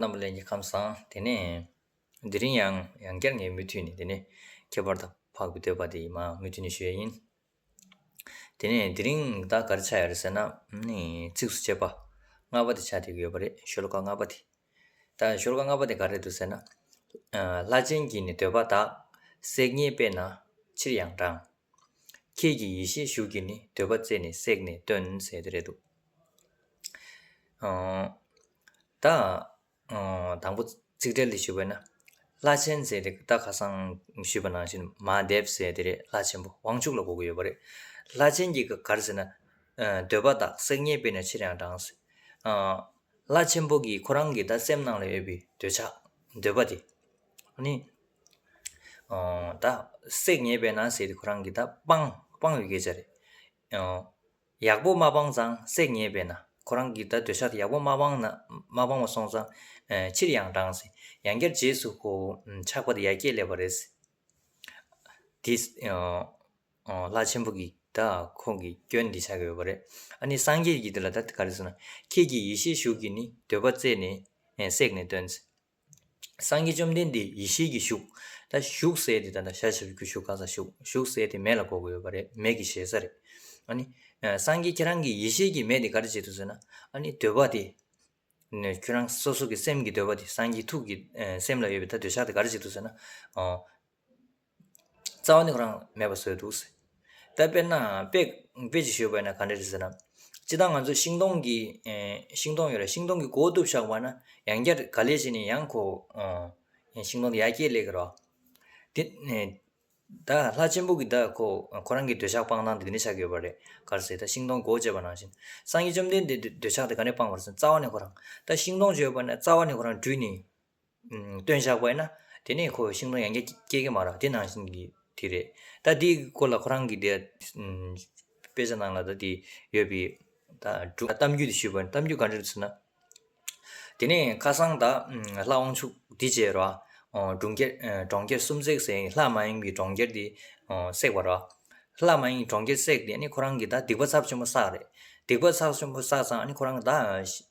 རྣམ་པ་ལས་ཀྱི་ཁམས་བཟང། དེ་ནས་དེ་རིང་ཡང་ཡང་བསྐྱར་ངས་མུ་མཐུད་ནས་དེ་ནི་ཁྱད་པར་དུ་འཕགས་པའི་འདོད་པ་དེ་ཡིན་མ་མུ་མཐུད་ནས་ཞུ་ཡ་ཡིན། དེ་ནས་དེ་རིང་བདག་གར་ཆགས་ཡ་རེད་ཟེར་ན་ནི་ཚིགས་སུ་བཅད་པ་ལྔ་པ་དེ་ཆགས་བསྡད་ཡོད་པ་རེད་ཤོ་ལོ་ཀ་ལྔ་པ་དེ། ད་ཤོ་ལོ་ཀ་ལྔ་པ་དེ་ག་རེད་འདུག་ཟེར་ན། ལྷ་ཆེན་གྱིས་ནི་འདོད་པ་དག་བསྲེགས་ཉེས་པས་ན་ཕྱིར་ཡང་འབྲང། ཁྱེད་ཀྱི་ཡེ་ཤེས་ཤུགས་ཀྱིས་ནི་འདོད་པ་རྩད་ནས་བསྲེགས་ནས་སྟོན་ཟེར་དེ་རེད་འདུག། དང། དང་པོ་ཚིག་འགྲེལ་ཞུ་བས་ན། བླ་ཆེན་ཚེ་འདི་ད་ག་སང་ཞུས་པ་ནང་བཞིན་མ་བསྡེབས་ཟེར་དེ་རེད་བླ་ཆེན་པོ་དབང་ཕྱུག་ལ་གོ་གི་ཡོད་པ་རེད། བླ་ཆེན་གྱི་གི་གར་ཟེར་ན། འདོད་པ་དག་སེག་ཉེས་པས་ན་ཕྱིར་ཡང་འབྲང། བླ་ཆེན་པོ་གིས་ཁོ་རང་གི་ད་སེམས་ནང་ལ་ཡོད་པའི་འདོད་ཆགས་འདོད་པ་དེ། ནི། ད་སེག་ཉེས་པས་ན་ཟེར་ཏེ་ཁོ་རང་གི་ད་སྤང་སྤང་བའི་སྐད་ཆ་རེད། ཡག་པོ་མ་སྤངས་ཙང་བསྲེག་ཉེས་པས་ན་ཁོ་རང་གིས་ད་འདོད་ཆགས་ཡག་པོ་མ་སྤངས་ན་མ་སྤངས་བ་སོང་ཙང་ཕྱིར་ཡང་བགྲང་ཟིན་ཡང་བསྐྱར་རྗེས་སུ་ཧོ་ཆགས་པ་དེ་ཡར་སྐྱེས་སླེབས་པ་རེད། དེས་ལྷ་ཆེན་པོ་གིས་ད་ཁོང་གིས་སྐྱོན་འདི་བྱ་གི་ཡོད་པ་རེད། ཨ་ནི་སངས་རྒྱས་ཀྱིས་དེ་ལ་ད་ག་རེ་ཟེར་ན་ཁྱེད་ཀྱིས་ཡེ་ཤེས་ཞུགས་ཀྱིས་ནི་འདོད་པ་བརྩད་ནས་བསྲེག་ནས་སྟོན། སངས་རྒྱས་བཅོམ་ལྡན་འདས་ཡེ་ཤེས་ཀྱི་བཞུགས། ད་བཞུགས་ཟེར་ཏེ་ད་ལྟ་ཞལ་ཞབས་ཀྱི་བཞུགས་ག་ས་བཞུགས་བཞུགས་ཟེར་ཏེ་མེ་ལ་གོ་དགོས་ཡོད་པ་རེད་མེ་གི་ཞེ་ས་རེད། ཨཱ་ནི། སངས་རྒྱས་ཁྱེད་རང་གི་ཡེ་ཤེས་ཀྱི་མེ་དེ་ག་རེ་བྱེད་དུ་ཟེར་ན། ཨཱ་ནི་འདོད་པ་དེ། ནས་ཁྱོད་རང་སོ་སོ་གི་སེམས་ཀྱི་འདོད་པ་དེ་སངས་རྒྱས་ཐུགས་ཀྱི་སེམས་ལ་ཡོད་པའི་ད་འདོད་ཆགས་དེ་ག་རེ་བྱེད་དུ་ཟེར་ན། རྩ་བ་ནི་ཁོ་རང་མེད་པར་བཟོས་འདུག་ཟེར། ད་དཔེར་ན་དཔེ་དཔེ་ཅིག་ཞུས་པ་ན་ག་འདྲ་རེད་ཟེར་ན། སྤྱི་བཏང་ང་ཚོ་ཤིང་སྡོང་གི། ཤིང་སྡོང་ཡོད་རེད་ཤིང་སྡོང་གི་སྒོ་གཏུབ་བཞག་པ་ན་ཡང་བསྐྱར་ག་ལས་བྱས་ནས་ཡང་ཁོ། ཤིང་སྡོང་གི་ཡར་སྐྱེས་ལས་ཀྱི་རོ། དེ། ད་ལྷ་ཆེན་པོ་གིས་ད་ཁོ་ཁོ་རང་གི་འདོད་ཆགས་སྤང་ཐང་དེ་འདི་འདྲ་ཆགས་ཡོད་པ་རེད་གར་ཟེར་ད་ཤིང་སྡོང་སྒོ་བཅད་པ་ནང་བཞིན། སངས་རྒྱས་བཅོམ་ལྡན་འདས་འདོད་ཆགས་དེ་ག་ནས་སྤངས་པར་སོང་རྩ་བ་ནས་ཁོ་རང། ད་ཤིང་སྡོང་བརྗོད་པ་ན་རྩ་བ་ནས་ཁོ་རང་བྲུས་ནས། སྟོན་བཞག་པ་ཡིན་ན། དེ་ནས་ཁོ་ཤིང་སྡོང་ཡང་བསྐྱལ་སྐྱེལ་གྱི་མ་རེད་དེ་ནང་བཞིན་གྱི་དེ་རེད། ད་དེའི་སྐོར་ལ་ཁོ་རང་གིས་དེ། དཔེ་ཆ་ནང་ལ་ད་དེ་ཡོད་པའི། དྲུག་གཏམ་རྒྱུད་དེ་ཞུས་པ་གཏམ་རྒྱུད་ག་འདྲ་རེད་ཟེར་ན། དེ་ནས་ཁ་སང་ད། ལྷ་དབང་ཕྱུག་འདི་བཅས་ར། གྲོང་ཁྱེར་གྲོང་ཁྱེར་གསུམ་བསྲེགས་ཟེར་ལྷ་མ་ཡིན་གྱི་གྲོང་ཁྱེར་དེ། བསྲེགས་པ་ར། ལྷ་མ་ཡིན་གྱི་གྲོང་ཁྱེར་བསྲེགས་ཏེ་ནི་ཁོ་རང་གིས་ད་སྡིག་པ་ཚབས་ཆེན་པོ་བསགས་རེད། སྡིག་པ་ཚབས་ཆེན་པོ་བསགས་ཙང་ནི་ཁོ་རང་གིས་ད།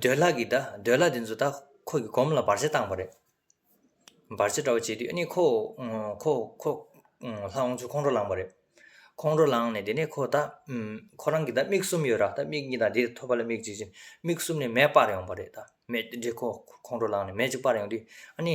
འདོད་ལྷ་གིས་ད་འདོད་ལྷ་དེ་ཚོ་ད་ཁོ་གི་གོམ་ལ་འབར་རྩེད་བཏང་བ་རེད། འབར་རྩེད་འདྲ་བོ་བྱས་དུས་ནི་ཁོ་ཁོ་ཁོ་ལྷ་འོང་ཚུལ་ཁོང་ཁྲོ་ལངས་པ་རེད། ཁོང་ཁྲོ་ལངས་ནས་དེ་ནས་ཁོ་ད་ཁོ་རང་གི་ད་མིག་གསུམ་ཡོད་ར་ད་མིག་གཉིས་དང་དེ་ཐོད་པ་ལ་མིག་གཅིག་མིག་གསུམ་ནས་མེ་སྤར་ཡོང་བ་རེད་ད་མེ་དེ་ཁོ་ཁོང་ཁྲོ་ལངས་ནས་མེ་གཅིག་སྤར་ཡོང་དུས་ཨ་ནི།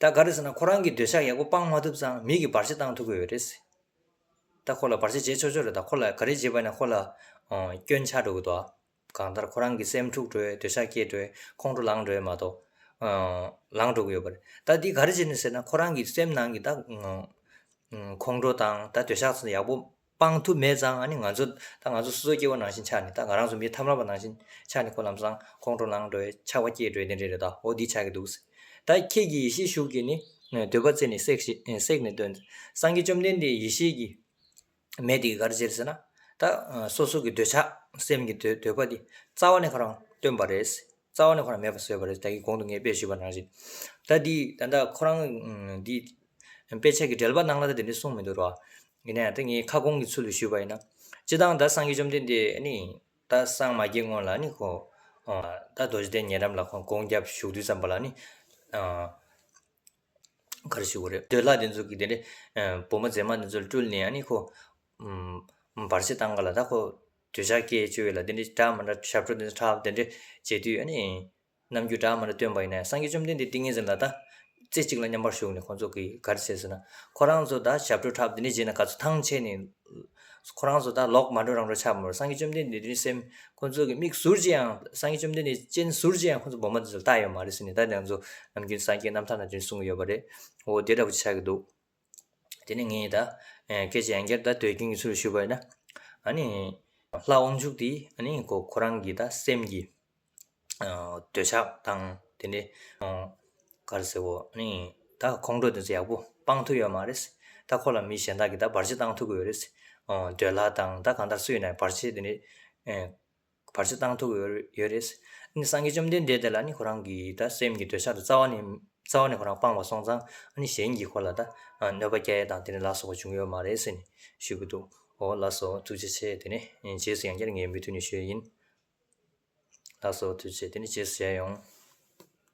ད་ག་རེ་ཟེར་ན་ཁོ་རང་གིས་འདོད་ཆགས་ཡག་པོ་སྤང་མ་ཐུབ་ཙང་མིག་གིས་བར་ཆད་བཏང་ཐུབ་གི་ཡོད་རེད། ད་ཁོ་ལ་བར་ཆད་བྱེད་ཆོག་ཆོག་རེད་ད་ཁོ་ལ་ག་རེ་བྱེད་པ་ནས་ཁོ་ལ་སྐྱོན་ཆགས་འགྲོ་གི་འདུག་གང་ལྟར་ཁོ་རང་གི་སེམས་འཁྲུག་འགྲོ་འདོད་ཆགས་སྐྱེས་འགྲོ་ཁོང་ཁྲོ་ལངས་འགྲོ་མ་གཏོགས། ལངས་འགྲོ་གི་ཡོད་པ་རེད་ད་འདིས་ག་རེ་བྱེད་ནུས་ཟེར་ན་ཁོ་རང་གི་སེམས་ནང་གི་ད་ཁོང་ཁྲོ་དང་ད་འདོད་ཆགས་ཡག་པོ་སྤང་ཐུབ་མེད་ཙང་ནི་ང་ཚོ་ད་ང་ཚོ་སོ་སོའི་སྐྱེ་བོ་ནང་བཞིན་ཆགས་ནས་ད་ང་རང་ཚོ་མི་ཐམས་རང་བ་ནང་བཞིན་ཆགས་ནས་ཁོ་ལམ་སང་ཁོང་ཁྲོ་ལངས་འགྲོའི་ཆགས་པ་སྐྱེས་འགྲོའི་དེ་འདྲའི་རེད་དའོ་འདི་ཆགས་ཀྱི་འདུག་ཟེར། ད་ཁྱེད་ཀྱི་ཡེ་ཤེས་ཤུགས་ཀྱིས་ནི་འདོད་པ་རྩད་ནས་བསྲེགས་ཞེས་བསྲེགས་ནས་སྟོན། སངས་རྒྱས་བཅོམ་ལྡན་འདས་ཡེ་ཤེས་ཀྱི་མེ་དེ་ག་རེ་བྱེད་ཟེར་ན། ད་སོ་སོ་གི་འདོད་ཆགས་སེམས་ཀྱི་འདོད་པ་འདི་རྩ་བ་ནས་ཁོ་རང་སྟོན་པ་རེད། རྩ་བ་ནས་ཁོ་རང་མེད་པར་བཟོས་པ་རེད་ད་གིས་གོང་དུ་ངས་དཔེ་ཞུས་པ་ནང་བཞིན། ད་འདི་ད་ལྟ་ཁོ་རང་འདི། དཔེ་ཆ་གི་འགྲེལ་པ་གནང་ན་ད་དེ་འདྲའི་གསུངས་མི་འདུག་རོགས། ཡིན་ན་ཡང་ད་ངས་ཁ་སྐོང་གི་ཚུལ་དུ་ཞུས་པ་ཡིན་ན། སྤྱི་དང་ད་སངས་རྒྱས་བཅོམ་ལྡན་འདས་ནི། ད་སངས་མ་རྒྱས་སྔོན་ལ་ནི་ཁོ། ད་རྡོ་རྗེ་གདན་ཉེ་འགྲམ་ལ་ཁོང་སྐོང་རྒྱབ་བཞུགས་དུས་ཙམ་པ་ལ་ནི། ག་རེ་ཞུ་གི་རེད་འདོད་ལྷ་དེ་ཚོ་གི་དེ་འདྲའི་བུ་མོ་མཛེས་མ་དེ་ཚོ་སྤྲུལ་ནས་ནི་ཁོ། བར་ཆད་བཏང་ག་ལ་ད་ཁོ། གྲོས་འཆར་ཀྱི་བཅུ་བའི་ལ་དེ་འདྲའི་གྲགས་མ་འདྲ་ཞབས་བྲོ་དེ་འདྲ་ཁྲག་དེ་འདྲའི་བྱེད་དུས་ཨ་ནི། ནམ་རྒྱུན་གྲགས་མ་འདྲ་སྟོན་པ་ཡིན་ནའི་སངས་རྒྱས་བཅོམ་ལྡན་འདས་ཏིང་ངེ་འཛིན་ལ་ད། རྩེ་གཅིག་ལ་མཉམ་པར་བཞུགས་ནས་ཁོང་ཚོ་གིས་ག་རེ་བྱེད་ཟེར་ན། ཁོ་རང་ཚོ་ད་ཞབས་བྲོ་ཁྲག་དེ་འདྲའི་བྱེད་ན་ག་ཚོད་ཐང་ཆད་ནས། ཁོ་རང་ཚོ་ད་ལོག་མ་འགྲོ་རང་འགྲོ་ཆགས་མོད་སངས་རྒྱས་བཅོམ་ལྡན་འདས་དེ་རིང་སེམས་ཁོང་ཚོ་གི་མིག་ཟུར་གྱིས་ཡང་སངས་རྒྱས་བཅོམ་ལྡན་འདས་སྤྱན་ཟུར་གྱིས་ཡང་ཁོང་ཚོ་སྦོམ་པ་འདི་ཚོ་ལྟ་ཡོད་མ་རེད་ཟེར་ནས་ད་དེ་ང་ཚོ་ནམ་རྒྱུན་སངས་རྒྱས་རྣམ་ཐར་ན་དེ་འདྲ་གསུང་གི་ཡོད་པ་རེད། འོ་དེ་འདྲ་བུ་ཅི་ཆགས་ཀྱི་འདུག། དེ་ནི་ངས་ད་སྐད་ཅེས་ཡང་བསྐྱར་ད་ཟློས་ཀྱིན་གྱི་ཚུལ་ཞུས་པ་ཡིན། ཨཱ་ནི། ལྷ་དབང་ཕྱུག་དེས་ཨཱ་ནི་ཁོ་ཁོ་རང་གི་ད་སེམས་ཀྱི། འདོད་ཆགས་དང་དེ་ནས། ག་རེ་ཟེར་བོ་ཨཱ་ནི། ད་ཁོང་ཁྲོ་དེ་ཚོ་ཡག་པོ་སྤང་ཐུབ་ཡོད་མ་རེད། ད་ཁོ་ལ་མི་གཞན་དག་གིས་ད་བར་ཆད་བཏང་ཐུབ་ཀྱི་ཡོད་རེད། འདོད་ལྷ་དང་ད་གང་ལྟར་སུ་ཡིན་ན་བར་ཆད་དེ་ནི། བར་ཆད་བཏང་ཐུབ་ཡོད་རེད། སངས་རྒྱས་བཅོམ་ལྡན་འདས་དེ་ལ་ནི་ཁོ་རང་གི་ད་སེམས་ཀྱི་འདོད་ཆགས་དང་རྩ་བ་ནས་རྩ་བ་ནས་ཁོ་རང་སྤངས་པ་སོང་ཙང་གཞན་གྱིས་ཁོ་ལ་ད་གནོད་པ་སྐྱལ་དང་དེ་ནས་ལགས་སོ་བ་བྱུང་ཡོད་མ་རེད་ཟེར་ནས་ཞུས་ཀྱི་འདུག་འོ་ལགས་སོ་ཐུགས་རྗེ་ཆེ་དེ་ནས་རྗེས་སུ་ཡང་བསྐྱར་ངས་མུ་མཐུད་ནས་ཞུས་ཡིན། ལགས་སོ་ཐུགས་རྗེ་དེ་ནས་རྗེས་སུ་བྱས་ཡོང།